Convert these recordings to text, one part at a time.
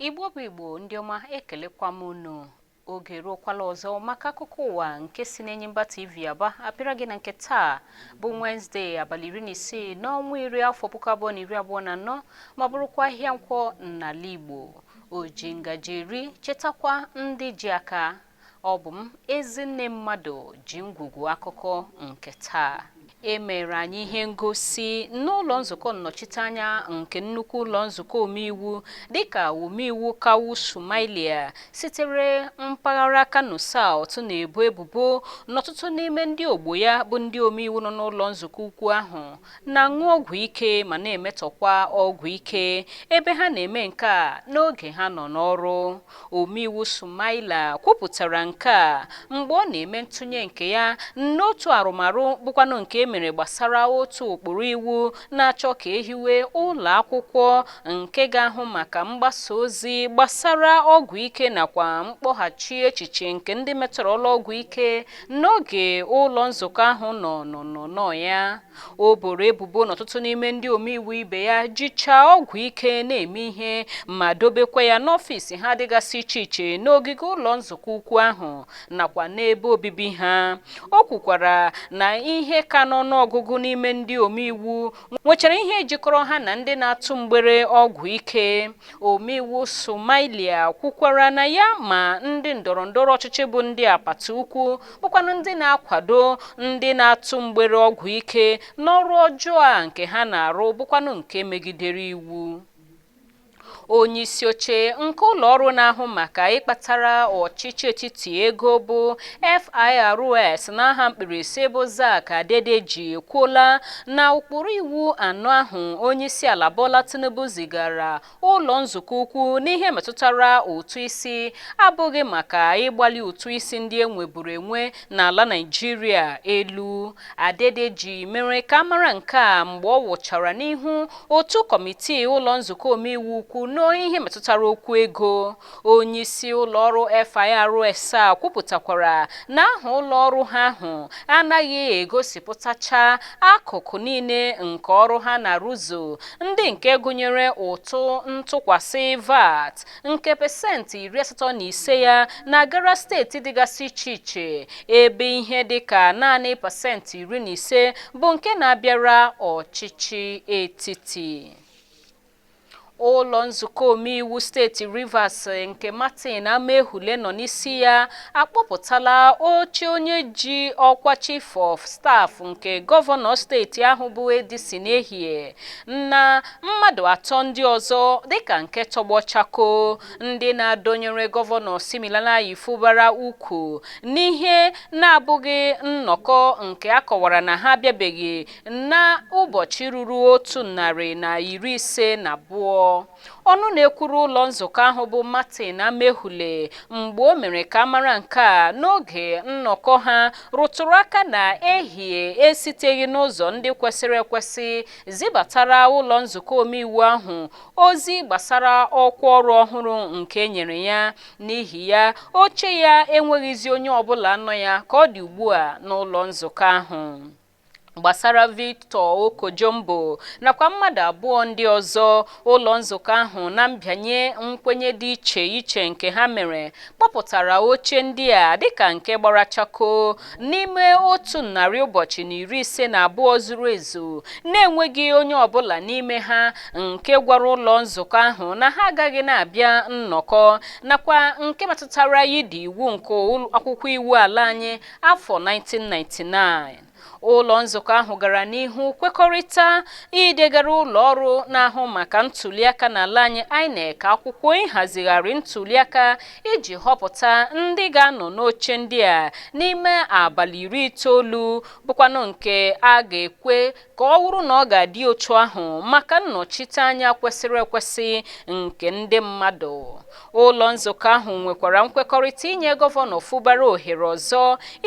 igbo bụ igbo ndị ọma ekelekwa m unu oge ruokwala ọzọ maka akụkọ ụwa nke si n'enyimba tv aba abịara gị na nke taa bụ Wenezde abalị iri na isii n'ọnwa iri afọ puku abụọ na iri abụọ na anọ ma bụrụkwa ahịa nkwọ n'ala igbo o ji ngaji eri chetakwa ndị ji aka ọ bụ m ezinne mmadụ ji ngwugwu akụkọ nke taa e mere anyị ihe ngosi n'ụlọ nzukọ nnọchiteanya nke nnukwu ụlọ nzukọ omeiwu dịka omeiwu kawu sumailia sitere mpaghara kano south na-ebo ebubo na ọtụtụ n'ime ndị ogbo ya bụ ndị omeiwu nọ n'ụlọ nzukọ ukwu ahụ na-aṅụ ọgwụ ike ma na-emetọkwa ọgwụ ike ebe ha na-eme nke a n'oge ha nọ n'ọrụ. Omeiwu Sumaila kwupụtara nke a mgbe ọ na-eme ntụnye nke ya n'otu arụmarụ bụkwanụ nke e mere gbasara otu ụkpụrụ iwu na-achọ ka e hiwe ụlọ akwụkwọ nke ga-ahụ maka mgbasa ozi gbasara ọgwụ ike nakwa mkpọghachi echiche nke ndị metọrọla ọgwụ ike N'oge ụlọ nzukọ ahụ nọ n'ọnụnọ ya, o boro ebubo na ọtụtụ n'ime ndị omeiwu ibe ya jicha ọgwụ ike na-eme ihe ma dobekwa ya n'ọfịs ha dịgasị iche iche n'ogige ụlọ nzukọ ukwu ahụ nakwa n'ebe obibi ha. O kwukwara na ihe ka n'ọnụọgụgụ n'ime ndị omeiwu nwechara ihe jikọrọ ha na ndị na-atụ mgbere ọgwụ ike omeiwu Sumailia kwukwara na ya ma ndị ndọrọ ndọrọ ọchịchị bụ ndị apata ukwu bụkwanụ ndị na-akwado ndị na-atụ mgbere ọgwụ ike n'ọrụ ọjọọ a nke ha na-arụ bụkwanụ nke megidere iwu onyeisioche nke ụlọọrụ na-ahụ maka ịkpatara ọchịchị etiti ego bụ FIRS n'aha mkpirisi bụ Zacch Adedeji ekwuola na ụkpụrụ iwu anọ ahụ onyeisiala Bola Tinubu zigara ụlọ nzukọ ukwu n'ihe metụtara ụtụ isi abụghị maka ịgbali ụtụ isi ndị e nweburu enwe n'ala Naịjirịa elu Adedeji mere ka a mara nke a mgbe ọ wụchara n'ihu Otu kọmitii ụlọ nzukọ omeiwu ukwu n'ihe metụtara okwu ego. Onyeisi ụlọọrụ FIRS a kwupụtakwara na aha ụlọọrụ ha ahụ anaghị egosipụtacha akụkụ niile nke ọrụ ha na-arụzu, ndị nke gụnyere ụtụ ntụkwasị, VAT, nke pasentị iri asatọ na ise ya na-agara steeti dịgasị iche iche ebe ihe dị ka naanị pasentị iri na ise bụ nke na-abịara ọchịchị etiti ụlọ nzukọ omeiwu steeti Rivers nke Martin Amaewhule nọ n'isi ya akpọpụtala oche onye ji ọkwa chief of staff nke gọvanọ steeti ahụ bụ Edison Ehie na mmadụ atọ ndị ọzọ dịka nke tọgbọ chakoo ndị na-adọnyere gọvanọ Siminalayi Fubara ukwu n'ihe na-abụghị nnọkọ nke a kọwara na ha abịabeghị na ụbọchị ruru otu narị na iri ise na abụọ. ọnụ na-ekwuru ụlọ nzukọ ahụ bụ Martin Amaewhule mgbe o mere ka a mara nke a n'oge nnọkọ ha rụtụrụ aka na Ehie esiteghị n'ụzọ ndị kwesịrị ekwesị zibatara ụlọ nzukọ omeiwu ahụ ozi gbasara ọkwa ọrụ ọhụrụ nke e nyere ya n'ihi ya oche ya enweghịzi onye ọbụla nọ ya ka ọ dị ugbu a n'ụlọ nzukọ ahụ gbasara Victor Oko-Jumbo nakwa mmadụ abụọ ndị ọzọ ụlọ nzukọ ahụ na mbịanye nkwenye dị iche iche nke ha mere kpọpụtara oche ndị a dịka nke gbara chakoo n'ime otu narị ụbọchị na iri ise na abụọ zuru ezu na-enweghị onye ọbụla n'ime ha nke gwara ụlọ nzukọ ahụ na ha agaghị na-abịa nnọkọ nakwa nke metụtara idi iwu nke akwụkwọ iwu ala anyị afọ 1999 ụlọ nzukọ ahụ gara n'ihu kwekọrịta idegara ụlọ ọrụ na-ahụ maka ntuliaka n'ala anyị INEC akwụkwọ ịhazigharị ntuliaka iji họpụta ndị ga-anọ n'oche ndị a n'ime abalị iri itoolu bụkwanụ nke a ga-ekwe ka ọ wụrụ na ọ ga-adị otu ahụ maka nnọchiteanya kwesịrị ekwesị nke ndị mmadụ. Ụlọ nzukọ ahụ nwekwara nkwekọrịta inye Gọvanọ Fubara ohere ọzọ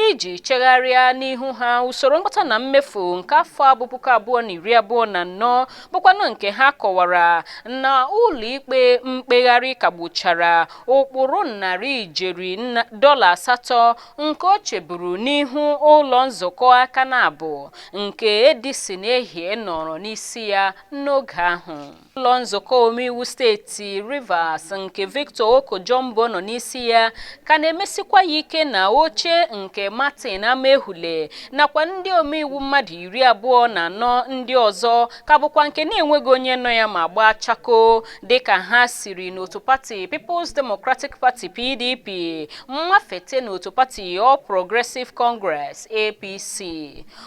iji chegharịa n'ihu ha usoro mkpata na mmefu nke afọ a bụ puku abụọ na iri abụọ na anọ bụkwanụ nke ha kọwara na ụlọikpe mkpegharị kagbuchara ụkpụrụ narị ijeri dọla asatọ nke o cheburu n'ihu ụlọ nzukọ a ka na-abụ nke Edison Ehie nọrọ n'isi ya n'oge ahụ. Ụlọ nzukọ omeiwu steeti Rivers nke Victor Oko-Jumbo nọ n'isi ya ka na-emesikwa ya ike na oche nke Martin Amaewhule nakwa ndị omeiwu mmadụ iri abụọ na anọ ndị ọzọ ka bụkwa nke na-enweghị onye nọ ya ma gbaa chakoo dịka ha siri n'otu pati People's Democratic Party PDP mafete n'otu pati All Progressive Congress APC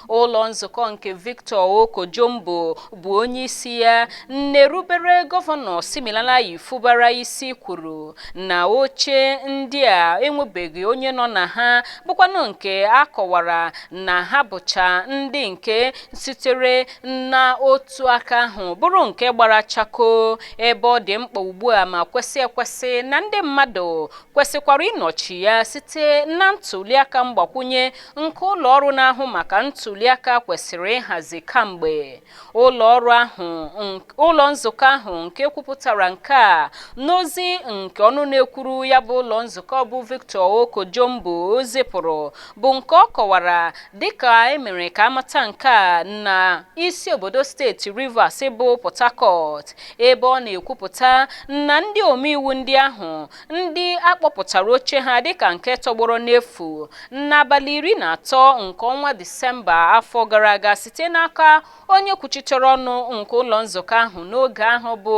ụlọ nzukọ nke Victor Oko-Jumbo bụ onye isi ya na-erubere gọvanọ Siminalayi Fubara isi kwuru na oche ndị a enwebeghị onye nọ na ha bụkwanụ nke a kọwara na ha bụcha ndị nke sitere na otu aka ahụ bụrụ nke gbara chakoo ebe ọ dị mkpa ugbu a ma kwesị ekwesị na ndị mmadụ kwesịkwara ịnọchi ya site na ntuliaka mgbakwunye nke ụlọ ọrụ na-ahụ maka ntuliaka kwesịrị ịhazi kamgbe ụlọ nzukọ ahụ nke kwupụtara nke a n'ozi nke ọnụ na-ekwuru ya bụ ụlọ nzukọ bụ Victor Oko-Jumbo zipụrụ bụ nke ọ kọwara dịka e mere ka a mata nke a na isi obodo steeti Rivers bụ Port Harcourt ebe ọ na-ekwupụta na ndị omeiwu ndị ahụ ndị a kpọpụtara oche ha dịka nke tọgbọrọ n'efu n'abalị iri na atọ nke ọnwa disemba afọ gara aga site n'aka onye kwuchitere ọnụ nke ụlọ nzukọ ahụ n'oge ahụ bụ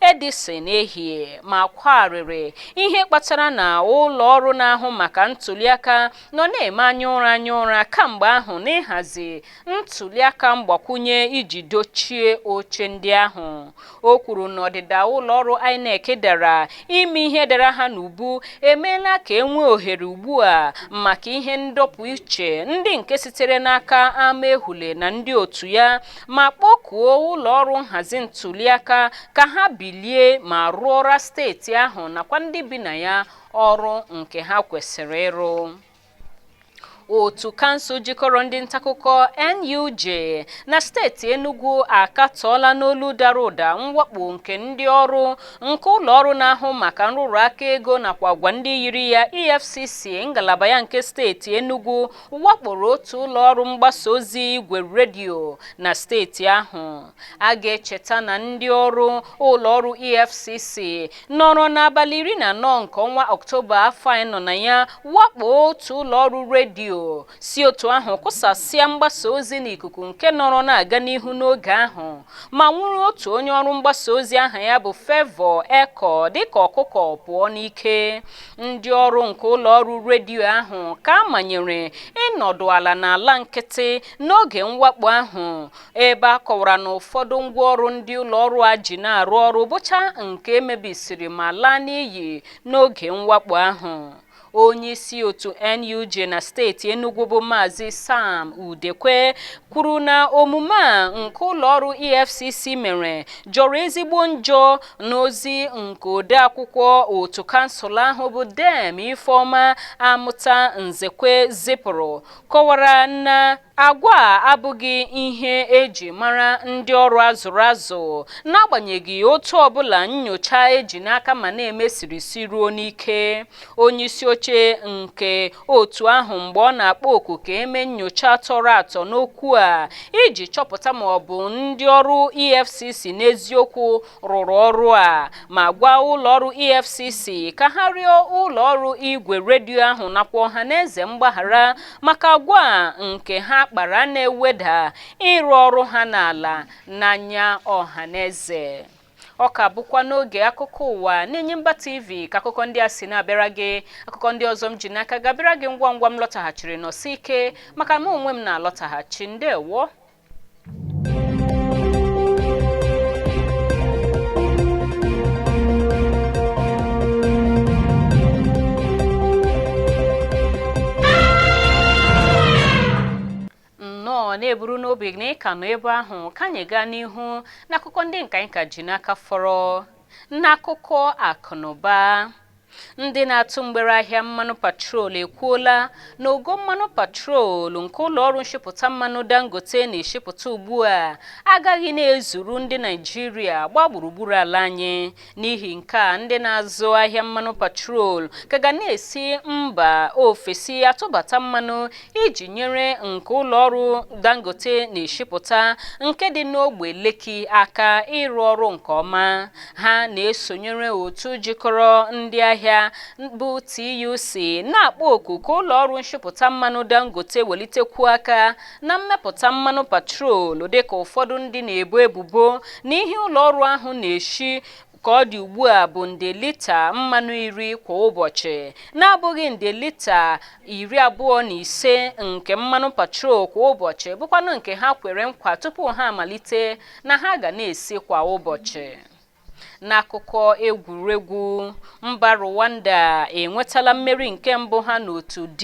Edison Ehie ma kwaa arịrị ihe kpatara na ụlọ ọrụ na-ahụ maka ntuliaka nọ na-eme anya ụra anya ụra kamgbe ahụ n'ịhazi ntuliaka mgbakwunye iji dochie oche ndị ahụ. O kwuru na ọdịda ụlọọrụ INEC dara ime ihe dara ha n'ubu emeela ka e nwee ohere ugbu a maka ihe ndọpụ uche ndị nke sitere n'aka Amaewhule na ndị otu ya ma kpọkuo ụlọọrụ nhazi ntuliaka ka ha bilie ma rụọra steeti ahụ nakwa ndị bi na ya ọrụ nke ha kwesịrị ịrụ otu kansụl jikọrọ ndị ntaakụkọ NUJ na steeti Enugu akatọọla n'olu dara ụda mwakpo nke ndị ọrụ nke ụlọ ọrụ na-ahụ maka nrụrụ aka ego nakwa agwa ndị yiri ya EFCC ngalaba ya nke steeti Enugu wakporo otu ụlọ ọrụ mgbasa ozi igwe redio na steeti ahụ a ga-echeta na ndị ọrụ ụlọ ọrụ EFCC nọrọ n'abalị iri na anọ nke ọnwa ọktoba afọ anyị nọ na ya wakpo otu ụlọ ọrụ redio si otu ahụ kụsasịa mgbasa ozi n'ikuku nke nọrọ na-aga n'ihu n'oge ahụ ma nwụrụ otu onye ọrụ mgbasa ozi aha ya bụ Favour Ekoh dịka ọkụkọ pụọ n'ike ndị ọrụ nke ụlọ ọrụ redio ahụ ka a manyere ịnọdụ ala n'ala nkịtị n'oge mwakpo ahụ ebe a kọwara na ụfọdụ ngwaọrụ ndị ụlọ ọrụ a ji na-arụ ọrụ bụcha nke e mebisiri ma laa n'iyi n'oge mwakpo ahụ onye isi otu NUJ na steeti Enugu bụ Maazị Sam Udekwe kwuru na omume a nke ụlọ ọrụ EFCC mere jọrọ ezigbo njọ n'ozi nke odeakwụkwọ otu kansụl ahụ bụ Dem Ifeoma Amụta Nzekwe zipụrụ kọwara na agwa a abụghị ihe e ji mara ndị ọrụ a zụrụ azụ n'agbanyeghị otu ọbụla nnyocha e ji n'aka ma na-eme siri si ruo n'ike onye isi oche nke otu ahụ mgbe ọ na-akpọ oku ka e mee nnyocha tọrọ atọ n'okwu a iji chọpụta ma ọ bụ ndị ọrụ EFCC n'eziokwu rụrụ ọrụ a ma gwa ụlọọrụ EFCC ka ha rịọ ụlọọrụ igwe redio ahụ nakwa ọha na eze mgbaghara maka agwa nke ha kpara na-eweda ịrụ ọrụ ha n'ala n'anya ọha na eze ọ ka bụkwa n'oge akụkọ ụwa n'Enyimba TV ka akụkọ ndị a si na-abịara gị akụkọ ndị ọzọ m ji n'aka ga-abịara gị ngwa ngwa m lọtaghachiri nọsie ike maka na onwe m na-alọtaghachi ndewo nnọọ na-eburu n'obi na ị ka nọ ebe ahụ ka anyị gaa n'ihu n'akụkọ ndị nke anyị ka ji n'aka fọrọ n'akụkọ akụnụba Ndị na-atụ mgbere ahịa mmanụ petrol ekwuola na ogo mmanụ petrol nke ụlọọrụ nshipụta mmanụ Dangote na-eshipụta ugbu a agaghị na-ezuru ndị Naijiria gbaa gburugburu ala anyị. N'ihi nke a, ndị na-azụ ahịa mmanụ petrol ka ga na-esi mba ofesi atụbata mmanụ iji nyere nke ụlọọrụ Dangote na-eshipụta nke dị n'ogbe Lekki aka ịrụ ọrụ nke ọma. ha na-esonyere otu jikọrọ ndị ahịa bụ TUC na-akpọ oku ka ụlọ ọrụ nshipụta mmanụ Dangote welitekwu aka na mmepụta mmanụ petrol dịka ụfọdụ ndị na-ebo ebubo na ihe ụlọ ọrụ ahụ na-eshi ka ọ dị ugbu a bụ nde lita mmanụ iri kwa ụbọchị na-abụghị nde lita iri abụọ na ise nke mmanụ petrol kwa ụbọchị bụkwanụ nke ha kwere nkwa tupu ha amalite na ha ga na-esi kwa ụbọchị. N'akụkọ egwuregwu, mba Rwanda enwetala mmeri nke mbụ ha n'otu D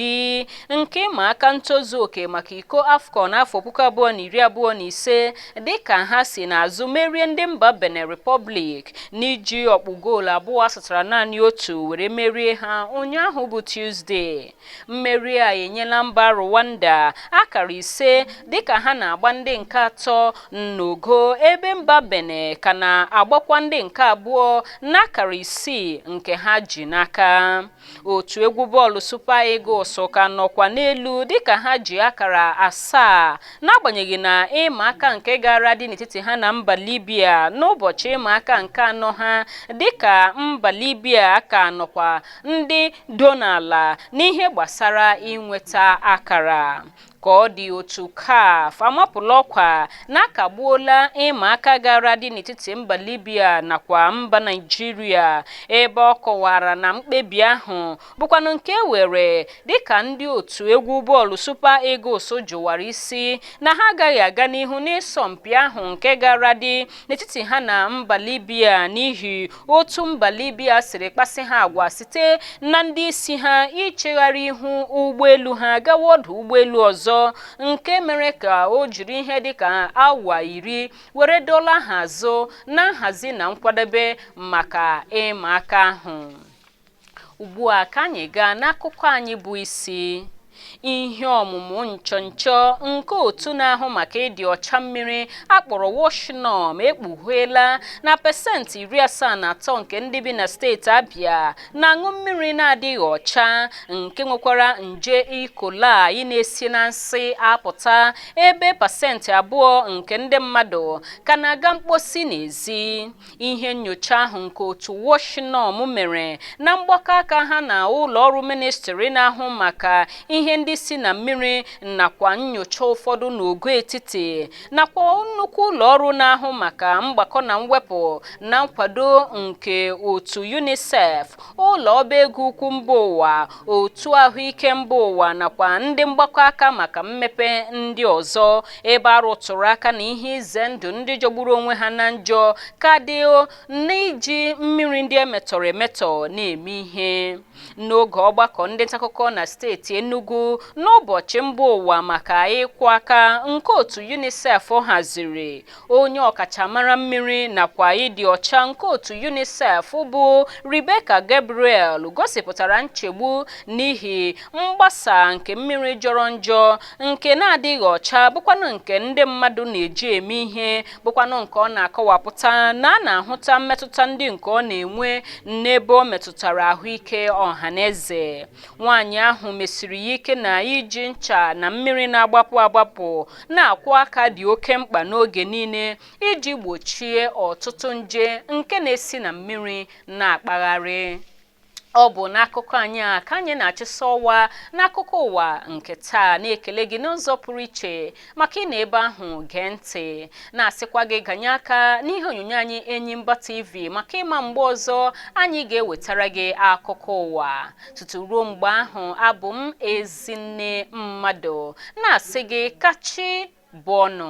nke ịma aka ntozu oke maka iko AFCON afọ puku abụọ na iri abụọ na ise dịka ha si n'azụ merie ndị mba Benin Republic n'iji ọkpụ goolu abụọ asatara naanị otu were merie ha ụnyaahụ bụ Tuzdee. Mmeri a enyela mba Rwanda akara ise dịka ha na-agba ndị nke atọ n'ogo ebe mba Benin ka na-agbakwa ndị nke abụọ n'akara isii nke ha ji n'aka. Otu egwu bọọlụ Super Eagles ka nọkwa n'elu dịka ha ji akara asaa n'agbanyeghị na ịma aka nke gaara adị n'etiti ha na mba Libya n'ụbọchị ịma aka nke anọ ha dịka mba Libya ka nọkwa ndị do n'ala n'ihe gbasara inweta akara ka ọ dị otu CAF amapụla ọkwa na a kagbuola ịma aka gaara adị n'etiti mba Libya nakwa mba Naịjirịa ebe ọ kọwara na mkpebi ahụ bụkwanụ nke e were dịka ndị otu egwu bọọlụ Super Eagles jụwara isi na ha agaghị aga n'ihu n'ịsọmpi ahụ nke gaara adị n'etiti ha na mba Libya n'ihi otu mba Libya siri kpasị ha agwa site na ndị isi ha ichegharị ihu ụgbọelu ha gawa ọdụ ụgbọelu ọzọ nke mere ka o jiri ihe dịka awa iri were dọla ha azụ na nhazi na nkwadebe maka ịma aka ahụ Ugbu a ka anyị gaa n'akụkọ anyị bụ isi ihe ọmụmụ nchọnchọ nke otu na-ahụ maka ịdị ọcha mmiri a kpọrọ WASHNORM ekpugheela na pasentị iri asaa na atọ nke ndị bi na steeti Abia na-aṅụ mmiri na-adịghị ọcha nke nwekwara nje E. coli na-esi na nsị apụta ebe pasentị abụọ nke ndị mmadụ ka na-aga mkposi n'ezi Ihe nyocha ahụ nke otu WASHNORM mere na mgbakọ aka ha na ụlọ ọrụ ministri na-ahụ maka ihe ndị si na mmiri nakwa nyocha ụfọdụ n'ogo etiti nakwa nnukwu ụlọ ọrụ na-ahụ maka mgbakọ na mwepụ na nkwado nke otu UNICEF, ụlọ ọba ego ukwu mba ụwa, otu ahụike mba ụwa nakwa ndị mgbakọ aka maka mmepe ndị ọzọ ebe a rụtụrụ aka na ihe ize ndụ ndị jọgburu onwe ha na njọ ka dị n'iji mmiri ndị e metọrọ emetọ na-eme ihe n'oge ọgbakọ ndị ntaakụkọ na steeti Enugu n'ụbọchị mba ụwa maka ịkwọ aka nke otu UNICEF haziri onye ọkachamara mmiri nakwa ịdị ọcha nke otu UNICEF bụ Rebecca Gabriel gosipụtara nchegbu n'ihi mgbasa nke mmiri jọrọ njọ nke na-adịghị ọcha bụkwanụ nke ndị mmadụ na-eji eme ihe bụkwanụ nke ọ na-akọwapụta na a na-ahụta mmetụta ndị nke ọ na-enwe n'ebe o metụtara ahụike ọha na eze nwaanyị ahụ mesiri ya ike na iji ncha na mmiri na-agbapụ agbapụ na-akwọ aka dị oke mkpa n'oge niile iji gbochie ọtụtụ nje nke na-esi na mmiri na-akpagharị ọ bụ n'akụkọ anyị a ka anyị na-achịsa ọwa n'akụkọ ụwa nke taa na-ekele gị n'ụzọ pụrụ iche maka ịnọ ebe ahụ gee ntị na-asịkwa gị ganye aka n'ihe onyonyo anyị enyimba tv maka ịma mgbe ọzọ anyị ga-ewetara gị akụkọ ụwa tutu ruo mgbe ahụ abụ m ezinne mmadụ na-asị gị ka chi bọọ nụ